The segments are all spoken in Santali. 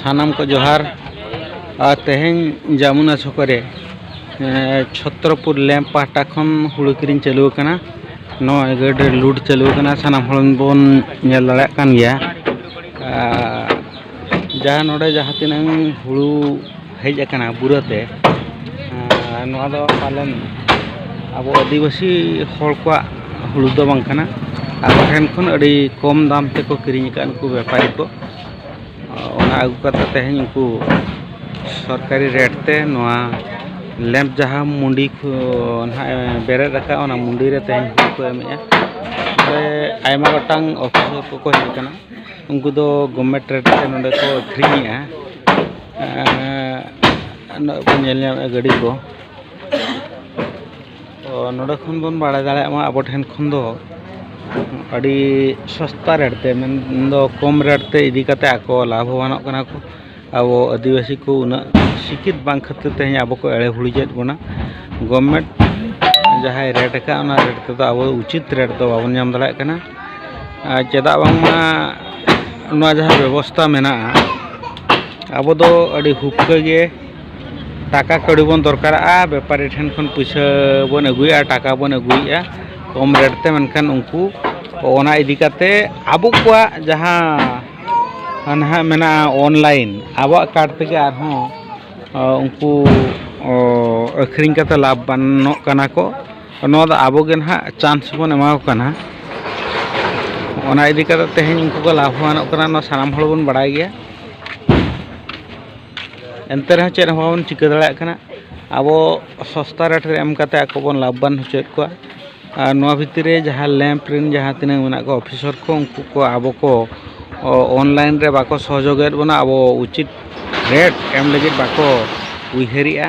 ᱥᱟᱱᱟᱢ ᱠᱚ ᱡᱚᱦᱟᱨ ᱟᱨ ᱛᱮᱦᱮᱧ ᱡᱟᱢᱩᱱᱟ ᱪᱷᱚᱠᱚ ᱨᱮ ᱪᱷᱚᱛᱨᱚᱯᱩᱨ ᱞᱮᱢᱯ ᱯᱟᱦᱴᱟ ᱠᱷᱚᱱ ᱦᱩᱲᱩ ᱠᱤᱨᱤᱧ ᱪᱟᱹᱞᱩ ᱟᱠᱟᱱᱟ ᱱᱚᱣᱟ ᱜᱟᱹᱰ ᱨᱮ ᱞᱩᱴ ᱪᱟᱹᱞᱩ ᱟᱠᱟᱱᱟ ᱥᱟᱱᱟᱢ ᱦᱚᱲ ᱵᱚᱱ ᱧᱮᱞ ᱫᱟᱲᱮᱭᱟᱜ ᱠᱟᱱ ᱜᱮᱭᱟ ᱡᱟᱦᱟᱸ ᱱᱚᱰᱮ ᱡᱟᱦᱟᱸ ᱛᱤᱱᱟᱹᱝ ᱦᱩᱲᱩ ᱦᱮᱡ ᱟᱠᱟᱱᱟ ᱵᱩᱨᱟᱹᱛᱮ ᱱᱚᱣᱟ ᱫᱚ ᱯᱟᱞᱮᱱ ᱟᱵᱚ ᱟᱹᱫᱤᱵᱟᱹᱥᱤ ᱦᱚᱲ ᱠᱚᱣᱟᱜ ᱦᱩᱲᱩ ᱫᱚ ᱵᱟᱝ ᱠᱟᱱᱟ ᱟᱵᱚ ᱴᱷᱮᱱ ᱠᱷᱚᱱ ᱟᱹᱰᱤ ᱠᱚᱢ ᱫᱟᱢ ᱛᱮᱠᱚ ᱠᱤᱨᱤᱧ ᱟᱠᱟᱫᱼᱟ ᱱᱩᱠᱩ ᱵᱮᱯᱟᱨᱤ ᱠᱚ ᱚᱱᱟ ᱟᱹᱜᱩ ᱠᱟᱛᱮᱫ ᱛᱮᱦᱮᱧ ᱩᱱᱠᱩ ᱥᱚᱨᱠᱟᱨᱤ ᱨᱮᱴ ᱛᱮ ᱱᱚᱣᱟ ᱞᱮᱢᱯ ᱡᱟᱦᱟᱸ ᱢᱩᱰᱤ ᱠᱚ ᱱᱟᱦᱟᱜ ᱵᱮᱨᱮᱫ ᱟᱠᱟᱫᱼᱟ ᱚᱱᱟ ᱢᱩᱰᱤ ᱨᱮ ᱛᱮᱦᱮᱧ ᱦᱩᱲᱩ ᱠᱚ ᱮᱢᱮᱫᱼᱟ ᱚᱸᱰᱮ ᱟᱭᱢᱟ ᱜᱚᱴᱟᱝ ᱚᱯᱷᱤᱥᱟᱨ ᱠᱚᱠᱚ ᱦᱮᱡ ᱟᱠᱟᱱᱟ ᱩᱱᱠᱩ ᱫᱚ ᱜᱚᱵᱷᱢᱮᱱᱴ ᱨᱮᱴ ᱛᱮ ᱱᱚᱰᱮ ᱠᱚ ᱟᱹᱠᱷᱨᱤᱧᱮᱫᱼᱟ ᱩᱱᱟᱹᱜ ᱵᱚᱱ ᱧᱮᱞ ᱧᱟᱢᱮᱫᱼᱟ ᱜᱟᱹᱰᱤ ᱠᱚ ᱛᱚ ᱱᱚᱰᱮ ᱠᱷᱚᱱ ᱵᱚᱱ ᱵᱟᱲᱟᱭ ᱫᱟᱲᱮᱭᱟᱜ ᱢᱟ ᱟᱵᱚ ᱴᱷᱮᱱ ᱠᱷᱚᱱ ᱫᱚ ᱟᱹᱰᱤ ᱥᱚᱥᱛᱟ ᱨᱮᱹᱴ ᱛᱮ ᱢᱮᱱᱫᱚ ᱠᱚᱢ ᱨᱮᱹᱴ ᱛᱮ ᱤᱫᱤ ᱠᱟᱛᱮᱫ ᱟᱠᱚ ᱞᱟᱵᱷᱚᱵᱟᱱᱚᱜ ᱠᱟᱱᱟ ᱠᱚ ᱟᱵᱚ ᱟᱹᱫᱤᱵᱟᱹᱥᱤ ᱠᱚ ᱩᱱᱟᱹᱜ ᱥᱤᱠᱠᱷᱤᱛ ᱵᱟᱝ ᱠᱷᱟᱹᱛᱤᱨ ᱛᱮ ᱟᱵᱚ ᱠᱚ ᱮᱲᱮ ᱜᱷᱩᱨᱤᱡᱮᱫ ᱵᱚᱱᱟ ᱜᱚᱵᱷᱢᱮᱱᱴ ᱡᱟᱦᱟᱸᱭ ᱨᱮᱹᱴ ᱠᱟᱜᱼᱟ ᱚᱱᱟ ᱨᱮᱹᱴ ᱛᱮᱫᱚ ᱟᱵᱚ ᱩᱪᱤᱛ ᱨᱮᱹᱴ ᱫᱚ ᱵᱟᱵᱚᱱ ᱧᱟᱢ ᱫᱟᱲᱮᱭᱟᱜ ᱠᱟᱱᱟ ᱪᱮᱫᱟᱜ ᱵᱟᱝᱢᱟ ᱱᱚᱣᱟ ᱡᱟᱦᱟᱸ ᱵᱮᱵᱚᱥᱛᱷᱟ ᱢᱮᱱᱟᱜᱼᱟ ᱟᱵᱚ ᱫᱚ ᱟᱹᱰᱤ ᱦᱩᱠᱠᱟᱹ ᱜᱮ ᱴᱟᱠᱟ ᱠᱟᱹᱣᱰᱤ ᱵᱚᱱ ᱫᱚᱨᱠᱟᱨᱟᱜᱼᱟ ᱵᱮᱯᱟᱨᱤ ᱴᱷᱮᱱ ᱠᱷᱚᱱ ᱯᱩᱭᱥᱟᱹ ᱵᱚᱱ ᱟᱹᱜᱩᱭᱟ ᱟᱨ ᱴᱟᱠᱟ ᱵᱚᱱ ᱟᱹᱜᱩᱭᱮᱫᱼᱟ ᱠᱚᱢ ᱨᱮᱹᱴ ᱛᱮ ᱢᱮᱱᱠᱷᱟᱱ ᱩᱱᱠᱩ ᱚᱱᱟ ᱤᱫᱤ ᱠᱟᱛᱮᱫ ᱟᱵᱚ ᱠᱚᱣᱟᱜ ᱡᱟᱦᱟᱸ ᱱᱟᱦᱟᱜ ᱢᱮᱱᱟᱜᱼᱟ ᱚᱱᱞᱟᱭᱤᱱ ᱟᱵᱚᱣᱟᱜ ᱠᱟᱨᱰ ᱛᱮᱜᱮ ᱟᱨᱦᱚᱸ ᱩᱱᱠᱩ ᱟᱹᱠᱷᱨᱤᱧ ᱠᱟᱛᱮᱫ ᱞᱟᱵᱷᱵᱟᱱᱚᱜ ᱠᱟᱱᱟ ᱠᱚ ᱱᱚᱣᱟ ᱫᱚ ᱟᱵᱚ ᱜᱮ ᱱᱟᱦᱟᱜ ᱪᱟᱱᱥ ᱵᱚᱱ ᱮᱢᱟ ᱠᱚ ᱠᱟᱱᱟ ᱚᱱᱟ ᱤᱫᱤ ᱠᱟᱛᱮᱫ ᱛᱮᱦᱮᱧ ᱩᱱᱠᱩ ᱠᱚ ᱞᱟᱵᱷᱚᱵᱟᱱᱚᱜ ᱠᱟᱱᱟ ᱱᱚᱣᱟ ᱥᱟᱱᱟᱢ ᱦᱚᱲ ᱵᱚᱱ ᱵᱟᱲᱟᱭ ᱜᱮᱭᱟ ᱮᱱᱛᱮ ᱨᱮᱦᱚᱸ ᱪᱮᱫ ᱦᱚᱸ ᱵᱟᱵᱚᱱ ᱪᱤᱠᱟᱹ ᱫᱟᱲᱮᱭᱟᱜ ᱠᱟᱱᱟ ᱟᱵᱚ ᱥᱚᱥᱛᱟ ᱨᱮᱹᱴ ᱨᱮ ᱮᱢ ᱠᱟᱛᱮᱫ ᱟᱠᱚ ᱵᱚᱱ ᱞᱟᱵᱷᱚᱵᱟᱱ ᱦᱚᱪᱚᱭᱮᱫ ᱠᱚᱣᱟ ᱟᱨ ᱱᱚᱣᱟ ᱵᱷᱤᱛᱤᱨ ᱨᱮ ᱡᱟᱦᱟᱸ ᱞᱮᱢᱯ ᱨᱮᱱ ᱡᱟᱦᱟᱸ ᱛᱤᱱᱟᱹᱜ ᱢᱮᱱᱟᱜ ᱠᱚᱣᱟ ᱚᱯᱷᱤᱥᱟᱨ ᱠᱚ ᱩᱱᱠᱩ ᱠᱚ ᱟᱵᱚ ᱠᱚ ᱚᱱᱞᱟᱭᱤᱱ ᱨᱮ ᱵᱟᱠᱚ ᱥᱚᱦᱚᱡᱳᱜᱽ ᱮᱫ ᱵᱚᱱᱟ ᱟᱵᱚ ᱩᱪᱤᱛ ᱨᱮᱹᱴ ᱮᱢ ᱞᱟᱹᱜᱤᱫ ᱵᱟᱠᱚ ᱩᱭᱦᱟᱹᱨᱮᱫᱼᱟ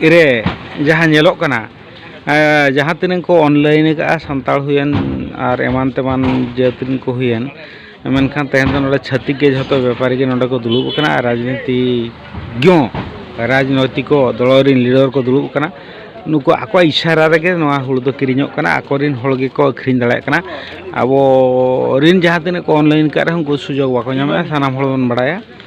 ᱨᱮ ᱡᱟᱦᱟᱸ ᱧᱮᱞᱚᱜ ᱠᱟᱱᱟ ᱡᱟᱦᱟᱸ ᱛᱤᱱᱟᱹᱜ ᱠᱚ ᱚᱱᱞᱟᱭᱤᱱ ᱠᱟᱜᱼᱟ ᱥᱟᱱᱛᱟᱲ ᱦᱩᱭᱮᱱ ᱟᱨ ᱮᱢᱟᱱ ᱛᱮᱢᱟᱱ ᱡᱟᱹᱛ ᱨᱮᱱ ᱠᱚ ᱦᱩᱭᱮᱱ ᱢᱮᱱᱠᱷᱟᱱ ᱛᱮᱦᱮᱧ ᱫᱚ ᱱᱚᱰᱮ ᱪᱷᱟᱹᱛᱤᱠ ᱜᱮ ᱡᱚᱛᱚ ᱵᱮᱯᱟᱨᱤ ᱜᱮ ᱱᱚᱰᱮ ᱠᱚ ᱫᱩᱲᱩᱵ ᱠᱟᱱᱟ ᱟᱨ ᱨᱟᱡᱽᱱᱤᱛᱤᱜᱱᱚ ᱨᱟᱡᱽᱱᱳᱭᱛᱤᱠᱚ ᱫᱚᱞ ᱨᱮᱱ ᱞᱤᱰᱟᱨ ᱠᱚ ᱫᱩᱲᱩᱵ ᱠᱟᱱᱟ ᱱᱩᱠᱩ ᱟᱠᱚᱣᱟᱜ ᱤᱥᱟᱨᱟ ᱨᱮᱜᱮ ᱱᱚᱣᱟ ᱦᱩᱲᱩ ᱫᱚ ᱠᱤᱨᱤᱧᱚᱜ ᱠᱟᱱᱟ ᱟᱠᱚ ᱨᱮᱱ ᱦᱚᱲ ᱜᱮᱠᱚ ᱟᱹᱠᱷᱨᱤᱧ ᱫᱟᱲᱮᱭᱟᱜ ᱠᱟᱱᱟ ᱟᱵᱚ ᱨᱮᱱ ᱡᱟᱦᱟᱸ ᱛᱤᱱᱟᱹᱜ ᱠᱚ ᱚᱱᱞᱟᱭᱤᱱ ᱠᱟᱜ ᱨᱮᱦᱚᱸ ᱩᱱᱠᱩ ᱥᱩᱡᱳᱜᱽ ᱵᱟᱠᱚ ᱧᱟᱢᱮᱜᱼᱟ ᱥᱟᱱᱟᱢ ᱦᱚᱲ ᱵᱚᱱ ᱵᱟᱲᱟᱭᱟ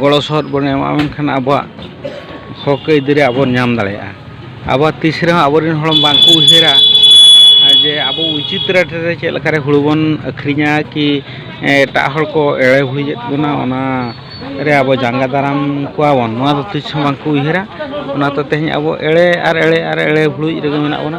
ᱜᱚᱲᱚ ᱥᱚᱦᱚᱫ ᱵᱚᱱ ᱮᱢᱟᱜᱼᱟ ᱢᱮᱱᱠᱷᱟᱱ ᱟᱵᱚᱣᱟᱜ ᱦᱚᱸᱠ ᱟᱹᱭᱫᱟᱹᱨᱤ ᱟᱵᱚ ᱵᱚᱱ ᱧᱟᱢ ᱫᱟᱲᱮᱭᱟᱜᱼᱟ ᱟᱵᱚ ᱛᱤᱥ ᱨᱮᱦᱚᱸ ᱟᱵᱚ ᱨᱮᱱ ᱦᱚᱲ ᱵᱟᱝ ᱠᱚ ᱩᱭᱦᱟᱹᱨᱟ ᱡᱮ ᱟᱵᱚ ᱩᱪᱤᱛ ᱨᱮᱹᱴ ᱨᱮ ᱪᱮᱫ ᱞᱮᱠᱟᱨᱮ ᱦᱩᱲᱩ ᱵᱚᱱ ᱟᱹᱠᱷᱨᱤᱧᱟ ᱠᱤ ᱮᱴᱟᱜ ᱦᱚᱲ ᱠᱚ ᱮᱲᱮ ᱵᱷᱩᱲᱤᱭᱮᱫ ᱵᱚᱱᱟ ᱚᱱᱟ ᱨᱮ ᱟᱵᱚ ᱡᱟᱸᱜᱟ ᱫᱟᱨᱟᱢ ᱠᱚᱣᱟ ᱵᱚᱱ ᱱᱚᱣᱟ ᱫᱚ ᱛᱤᱥ ᱦᱚᱸ ᱵᱟᱝ ᱠᱚ ᱩᱭᱦᱟᱹᱨᱟ ᱚᱱᱟᱛᱮ ᱛᱮᱦᱮᱧ ᱟᱵᱚ ᱮᱲᱮ ᱟᱨ ᱮᱲᱮ ᱟᱨ ᱮᱲᱮ ᱵᱷᱩᱲᱩᱡ ᱨᱮᱜᱮ ᱢᱮᱱᱟᱜ ᱵᱚᱱᱟ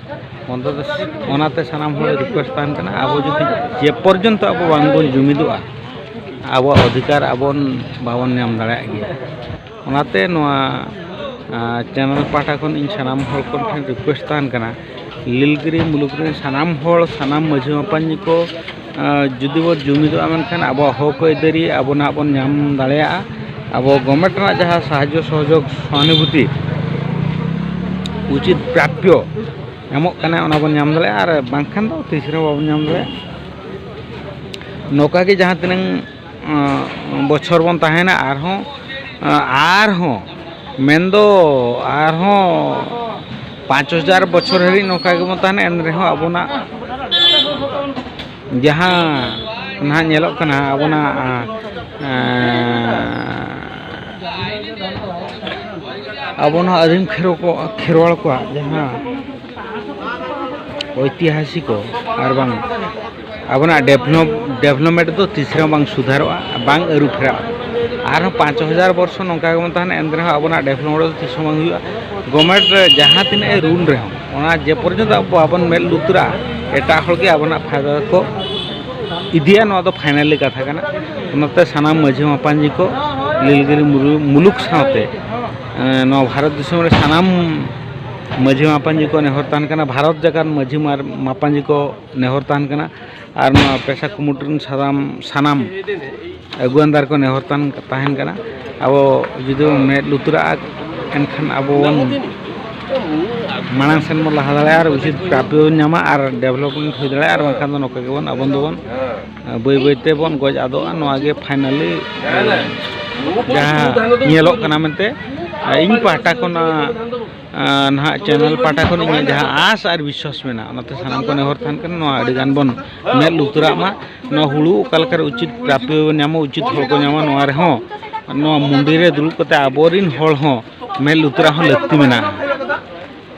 ᱵᱚᱱᱫᱚ ᱫᱚ ᱚᱱᱟᱛᱮ ᱥᱟᱱᱟᱢ ᱦᱚᱲ ᱨᱤᱠᱩᱭᱮᱥᱴ ᱛᱟᱦᱮᱱ ᱠᱟᱱᱟ ᱟᱵᱚ ᱡᱩᱫᱤ ᱡᱮ ᱯᱚᱨᱡᱚᱱᱛᱚ ᱟᱵᱚ ᱵᱟᱝᱵᱚᱱ ᱡᱩᱢᱤᱫᱚᱜᱼᱟ ᱟᱵᱚᱣᱟᱜ ᱚᱫᱷᱤᱠᱟᱨ ᱟᱵᱚᱱ ᱵᱟᱵᱚᱱ ᱧᱟᱢ ᱫᱟᱲᱮᱭᱟᱜ ᱜᱮᱭᱟ ᱚᱱᱟᱛᱮ ᱱᱚᱣᱟ ᱪᱮᱱᱮᱞ ᱯᱟᱦᱴᱟ ᱠᱷᱚᱱ ᱤᱧ ᱥᱟᱱᱟᱢ ᱦᱚᱲ ᱠᱚ ᱴᱷᱮᱱ ᱨᱤᱠᱩᱭᱮᱥᱴ ᱛᱟᱦᱮᱱ ᱠᱟᱱᱟ ᱞᱤᱞᱜᱤᱨᱤ ᱢᱩᱞᱩᱠ ᱨᱮᱱ ᱥᱟᱱᱟᱢ ᱦᱚᱲ ᱥᱟᱱᱟᱢ ᱢᱟᱹᱡᱷᱤ ᱢᱟᱯᱟᱡᱤ ᱠᱚ ᱡᱩᱫᱤ ᱵᱚᱱ ᱡᱩᱢᱤᱫᱚᱜᱼᱟ ᱢᱮᱱᱠᱷᱟᱱ ᱟᱵᱚᱣᱟᱜ ᱦᱚᱸᱠ ᱟᱹᱭᱫᱟᱹᱨᱤ ᱟᱵᱚ ᱱᱟᱦᱟᱜ ᱵᱚᱱ ᱧᱟᱢ ᱫᱟᱲᱮᱭᱟᱜᱼᱟ ᱟᱵᱚ ᱜᱚᱵᱷᱢᱮᱱᱴ ᱨᱮᱱᱟᱜ ᱡᱟᱦᱟᱸ ᱥᱟᱦᱟᱡᱽᱡᱚ ᱥᱚᱦᱚᱡᱳᱜᱽ ᱥᱚᱦᱟᱱᱩᱵᱷᱩᱛᱤ ᱩᱪᱤᱛ ᱯᱨᱟᱯᱯᱚ ᱮᱢᱚᱜ ᱠᱟᱱᱟᱭ ᱚᱱᱟ ᱵᱚᱱ ᱧᱟᱢ ᱫᱟᱲᱮᱭᱟᱜᱼᱟ ᱟᱨ ᱵᱟᱝᱠᱷᱟᱱ ᱫᱚ ᱛᱤᱥ ᱨᱮᱦᱚᱸ ᱵᱟᱵᱚᱱ ᱧᱟᱢ ᱫᱟᱲᱮᱭᱟᱜᱼᱟ ᱱᱚᱝᱠᱟ ᱜᱮ ᱡᱟᱦᱟᱸ ᱛᱤᱱᱟᱹᱝ ᱵᱚᱪᱷᱚᱨ ᱵᱚᱱ ᱛᱟᱦᱮᱱᱟ ᱟᱨᱦᱚᱸ ᱟᱨᱦᱚᱸ ᱢᱮᱱᱫᱚ ᱟᱨᱦᱚᱸ ᱯᱟᱸᱪ ᱦᱟᱡᱟᱨ ᱵᱚᱪᱷᱚᱨ ᱦᱟᱹᱨᱤᱡ ᱱᱚᱝᱠᱟ ᱜᱮᱵᱚᱱ ᱛᱟᱦᱮᱱᱟ ᱮᱱ ᱨᱮᱦᱚᱸ ᱟᱵᱚᱱᱟᱜ ᱡᱟᱦᱟᱸ ᱱᱟᱦᱟᱜ ᱧᱮᱞᱚᱜ ᱠᱟᱱᱟ ᱟᱵᱚᱱᱟᱜ ᱟᱵᱚ ᱱᱚᱣᱟ ᱟᱹᱫᱤᱢ ᱠᱷᱮᱨᱣᱟᱲ ᱠᱚᱣᱟᱜ ᱡᱟᱦᱟᱸ ᱳᱭᱛᱤᱦᱟᱥᱤᱠᱚ ᱟᱨ ᱵᱟᱝ ᱟᱵᱚᱱᱟᱜ ᱰᱮᱵᱷᱞᱚᱯ ᱰᱮᱵᱷᱞᱚᱯᱢᱮᱱᱴ ᱫᱚ ᱛᱤᱥ ᱨᱮᱦᱚᱸ ᱵᱟᱝ ᱥᱩᱫᱷᱟᱹᱨᱚᱜᱼᱟ ᱵᱟᱝ ᱟᱹᱨᱩ ᱯᱷᱮᱨᱟᱜᱼᱟ ᱟᱨᱦᱚᱸ ᱯᱟᱸᱪ ᱦᱟᱡᱟᱨ ᱵᱚᱨᱥᱚ ᱱᱚᱝᱠᱟ ᱜᱮᱵᱚᱱ ᱛᱟᱦᱮᱱᱟ ᱮᱱᱛᱮ ᱨᱮᱦᱚᱸ ᱟᱵᱚᱱᱟᱜ ᱰᱮᱵᱷᱞᱚᱯᱢᱮᱱᱴ ᱫᱚ ᱛᱤᱥ ᱦᱚᱸ ᱵᱟᱝ ᱦᱩᱭᱩᱜᱼᱟ ᱜᱚᱵᱷᱢᱮᱱᱴ ᱨᱮ ᱡᱟᱦᱟᱸ ᱛᱤᱱᱟᱹᱜ ᱮ ᱨᱩᱞ ᱨᱮᱦᱚᱸ ᱚᱱᱟ ᱡᱮ ᱯᱚᱨᱡᱚᱱᱛᱚ ᱟᱵᱚ ᱵᱟᱵᱚᱱ ᱢᱮᱫ ᱞᱩᱛᱩᱨᱟᱜᱼᱟ ᱮᱴᱟᱜ ᱦᱚᱲ ᱜᱮ ᱟᱵᱚᱱᱟᱜ ᱯᱷᱟᱭᱫᱟ ᱫᱚᱠᱚ ᱤᱫᱤᱭᱟ ᱱᱚᱣᱟ ᱫᱚ ᱯᱷᱟᱭᱱᱟᱞᱤ ᱠᱟᱛᱷᱟ ᱠᱟᱱᱟ ᱚᱱᱟᱛᱮ ᱥᱟᱱᱟᱢ ᱢᱟᱺᱡᱷᱤ ᱢᱟᱯᱟᱡᱤ ᱠᱚ ᱱᱤᱞᱜᱤᱨᱤ ᱢᱩᱞᱩᱠ ᱥᱟᱶᱛᱮ ᱱᱚᱣᱟ ᱵᱷᱟᱨᱚᱛ ᱫᱤᱥᱚᱢ ᱨᱮ ᱥᱟᱱᱟᱢ ᱢᱟᱺᱡᱷᱤ ᱢᱟᱯᱟᱡᱤ ᱠᱚ ᱱᱮᱦᱚᱨ ᱛᱟᱦᱮᱱ ᱠᱟᱱᱟ ᱵᱷᱟᱨᱚᱛ ᱡᱟᱠᱟᱛ ᱢᱟᱺᱡᱷᱤ ᱢᱟᱯᱟᱡᱤ ᱠᱚ ᱱᱮᱦᱚᱨ ᱛᱟᱦᱮᱱ ᱠᱟᱱᱟ ᱟᱨ ᱱᱚᱣᱟ ᱯᱮᱥᱟ ᱠᱩᱢᱩᱴ ᱨᱮᱱ ᱥᱟᱫᱟᱢ ᱥᱟᱱᱟᱢ ᱟᱹᱜᱩᱣᱟᱱᱫᱟᱨ ᱠᱚ ᱱᱮᱦᱚᱨ ᱛᱟᱦᱮᱱ ᱛᱟᱦᱮᱱ ᱠᱟᱱᱟ ᱟᱵᱚ ᱡᱩᱫᱤ ᱵᱚᱱ ᱢᱮᱫ ᱞᱩᱛᱩᱨᱟᱜᱼᱟ ᱮᱱᱠᱷᱟᱱ ᱟᱵᱚ ᱵᱚᱱ ᱢᱟᱲᱟᱝ ᱥᱮᱱ ᱵᱚᱱ ᱞᱟᱦᱟ ᱫᱟᱲᱮᱭᱟᱜᱼᱟ ᱟᱨ ᱩᱪᱤᱛ ᱯᱨᱟᱯᱭᱚ ᱵᱚᱱ ᱧᱟᱢᱟ ᱟᱨ ᱰᱮᱵᱷᱞᱚᱯᱢᱮᱱᱴ ᱦᱩᱭ ᱫᱟᱲᱮᱭᱟᱜᱼᱟ ᱟᱨ ᱵᱟᱝᱠᱷᱟᱱ ᱫᱚ ᱱᱚᱝᱠᱟ ᱜᱮᱵᱚᱱ ᱟᱵᱚ ᱫᱚᱵᱚᱱ ᱵᱟᱹᱭ ᱵᱟᱹᱭ ᱛᱮᱵᱚᱱ ᱜᱚᱡ ᱟᱫᱚᱜᱼᱟ ᱱᱚᱣᱟ ᱜᱮ ᱯᱷᱟᱭᱱᱟᱞᱤ ᱡᱟᱦᱟᱸ ᱧᱮᱞᱚᱜ ᱠᱟᱱᱟ ᱢᱮᱱᱛᱮ ᱤᱧ ᱯᱟᱦᱴᱟ ᱠᱷᱚᱱᱟᱜ ᱱᱟᱦᱟᱜ ᱪᱮᱱᱮᱞ ᱯᱟᱦᱴᱟ ᱠᱷᱚᱱ ᱤᱧᱟᱹᱜ ᱡᱟᱦᱟᱸ ᱟᱸᱥ ᱟᱨ ᱵᱤᱥᱣᱟᱥ ᱢᱮᱱᱟᱜᱼᱟ ᱚᱱᱟᱛᱮ ᱥᱟᱱᱟᱢ ᱠᱚ ᱱᱮᱦᱚᱨ ᱛᱟᱦᱮᱱ ᱠᱟᱱᱟ ᱱᱚᱣᱟ ᱟᱹᱰᱤ ᱜᱟᱱ ᱵᱚᱱ ᱢᱮᱫ ᱞᱩᱛᱩᱨᱟᱜ ᱢᱟ ᱱᱚᱣᱟ ᱦᱩᱲᱩ ᱚᱠᱟ ᱞᱮᱠᱟᱨᱮ ᱩᱪᱤᱛ ᱯᱨᱟᱯᱭᱚ ᱵᱚᱱ ᱧᱟᱢᱟ ᱩᱪᱤᱛ ᱦᱚᱲ ᱠᱚ ᱧᱟᱢᱟ ᱱᱚᱣᱟ ᱨᱮᱦᱚᱸ ᱱᱚᱣᱟ ᱢᱩᱸᱰᱤ ᱨᱮ ᱫᱩᱲᱩᱵ ᱠᱟᱛᱮ ᱟᱵᱚᱨᱤᱱ ᱦᱚᱲ ᱦᱚᱸ ᱢᱮᱫ ᱞᱩᱛᱩᱨᱟᱜ ᱦᱚᱸ ᱞᱟᱹᱠᱛᱤ ᱢᱮᱱᱟᱜᱼᱟ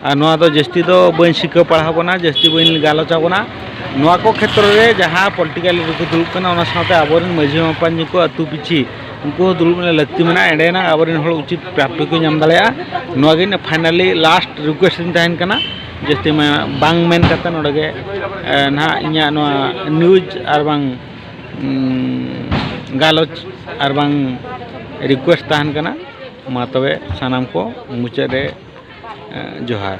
ᱟᱨ ᱱᱚᱣᱟ ᱫᱚ ᱡᱟᱹᱥᱛᱤ ᱫᱚ ᱵᱟᱹᱧ ᱥᱤᱠᱷᱟᱹᱣ ᱯᱟᱲᱦᱟᱣ ᱵᱚᱱᱟ ᱡᱟᱹᱥᱛᱤ ᱵᱟᱹᱧ ᱜᱟᱞᱚᱪ ᱟᱵᱚᱱᱟ ᱱᱚᱣᱟ ᱠᱚ ᱠᱷᱮᱛᱨᱚ ᱨᱮ ᱡᱟᱦᱟᱸ ᱯᱚᱞᱤᱴᱤᱠᱟᱞ ᱞᱤᱰᱟᱨ ᱠᱚ ᱫᱩᱲᱩᱵ ᱠᱟᱱᱟ ᱚᱱᱟ ᱥᱟᱶᱛᱮ ᱟᱵᱚᱨᱤᱱ ᱢᱟᱺᱡᱷᱤ ᱢᱟᱯᱟᱡᱤ ᱠᱚ ᱟᱹᱛᱩ ᱯᱤᱪᱷᱤ ᱩᱱᱠᱩ ᱦᱚᱸ ᱫᱩᱲᱩᱵ ᱨᱮᱱᱟᱜ ᱞᱟᱹᱠᱛᱤ ᱢᱮᱱᱟᱜᱼᱟ ᱮᱸᱰᱮᱭᱟᱱᱟᱜ ᱟᱵᱚ ᱨᱮᱱ ᱦᱚᱲ ᱩᱪᱤᱛ ᱯᱨᱟᱯᱛᱤ ᱠᱚ ᱧᱟᱢ ᱫᱟᱲᱮᱭᱟᱜᱼᱟ ᱱᱚᱣᱟ ᱜᱮ ᱤᱧᱟᱹᱜ ᱯᱷᱟᱭᱱᱟᱞᱤ ᱞᱟᱥᱴ ᱨᱤᱠᱩᱭᱮᱥᱴ ᱛᱤᱧ ᱛᱟᱦᱮᱱ ᱠᱟᱱᱟ ᱡᱟᱹᱥᱛᱤ ᱢᱟ ᱵᱟᱝ ᱢᱮᱱ ᱠᱟᱛᱮᱫ ᱱᱚᱰᱮ ᱜᱮ ᱱᱟᱦᱟᱜ ᱤᱧᱟᱹᱜ ᱱᱚᱣᱟ ᱱᱤᱭᱩᱡᱽ ᱟᱨ ᱵᱟᱝ ᱜᱟᱞᱚᱪ ᱟᱨ ᱵᱟᱝ ᱨᱤᱠᱩᱭᱮᱥᱴ ᱛᱟᱦᱮᱱ ᱠᱟᱱᱟ ᱢᱟ ᱛᱚᱵᱮ ᱥᱟᱱᱟᱢ ᱠᱚ ᱢᱩᱪᱟᱹᱫ ᱨᱮ ᱡᱚᱦᱟᱨ